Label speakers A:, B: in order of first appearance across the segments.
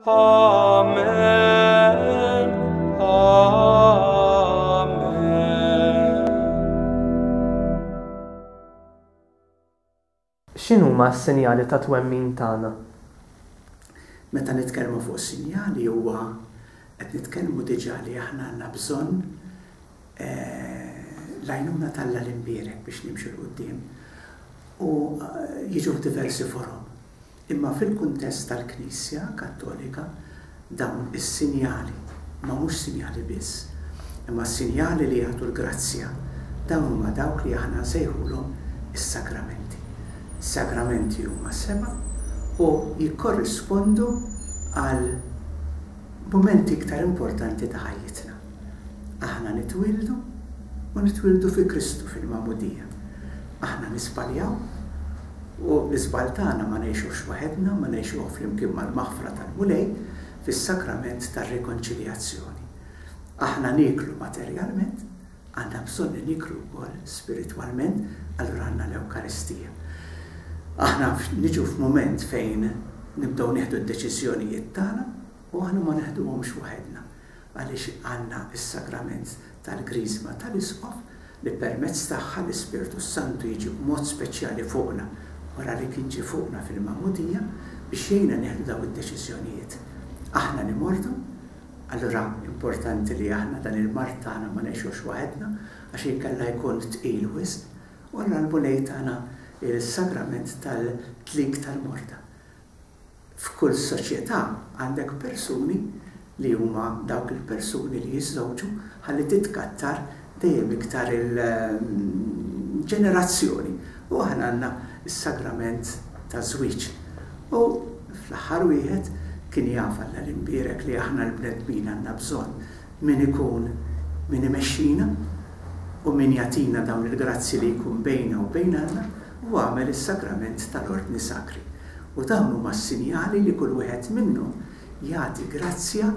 A: Amen. X'inhuma s-sinjali ta' twemmin tagħna? Meta nitkellmu fuq sinjali huwa qed nitkellmu diġà li aħna għandna bżonn l-għajnuna t'Alla l-Imbierek biex nimxu 'l quddiem u jiġu f'diversi forom. Imma fil-kuntest tal-Knisja Kattolika dawn is-sinjali, ma mhux sinjali biss, imma sinjali li jagħtu l-grazzja, dawn huma dawk li aħna nsejħulhom is-sagramenti. Is-sagramenti huma seba' u jikkorrispondu għal mumenti iktar importanti ta' ħajjitna. Aħna nitwieldu u nitwieldu fi Kristu fil-magħmudija. Aħna nisbaljaw. U l-iżball tagħna ma ngħixuhx waħedna, ma ngħixuh flimkien mal-maħfra tal-Mulej fis-sakrament tar-rikonċiljazzjoni. Aħna nieklu materjalment, għandna bżonn li nieklu wkoll spiritwalment, allura għandna l-Ewkaristija. Aħna niġu f'mument fejn nibdew nieħdu d-deċiżjonijiet tagħna u aħna ma neħduhomx waħedna. għaliex għandna s-Sagrament tal-Griżma tal-Isqof li permezz tagħha l-Ispirtu s-Santu jiġi b'mod speċjali fuqna wara li kien ġie fuqna fil-magħmudija biex jgħinna nieħdu dawn id-deċiżjonijiet. Aħna nimordu, allura importanti li aħna dan il-mard tagħna ma ngħixux waħedna għax inkella jkun tqil wisq u allura l-Mulej tana s-Sagrament tal-Tlik tal-Morda. F'kull soċjetà għandek persuni li huma dawk il-persuni li jiżżewġu ħalli titkattar dejjem iktar il-ġenerazzjoni u aħna għandna s-sagrament taż-żwieġ. U fl-aħħar wieħed, kien jaf Alla l-Imbierek li aħna l-bnedmin għandna bżonn Min ikun min imexxina u min jagħtina dawn il-grazzji li jkun bejna u bejn Alla u għamel is-sagrament tal-Ordni Sakri. U dawn huma s-sinjali li kull wieħed minnhom jagħti grazzja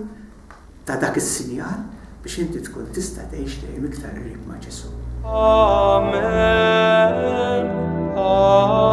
A: ta' dak is-sinjal biex inti tkun tista' tgħix dejjem iktar qrib ma' Ġesù. Amen. Amen.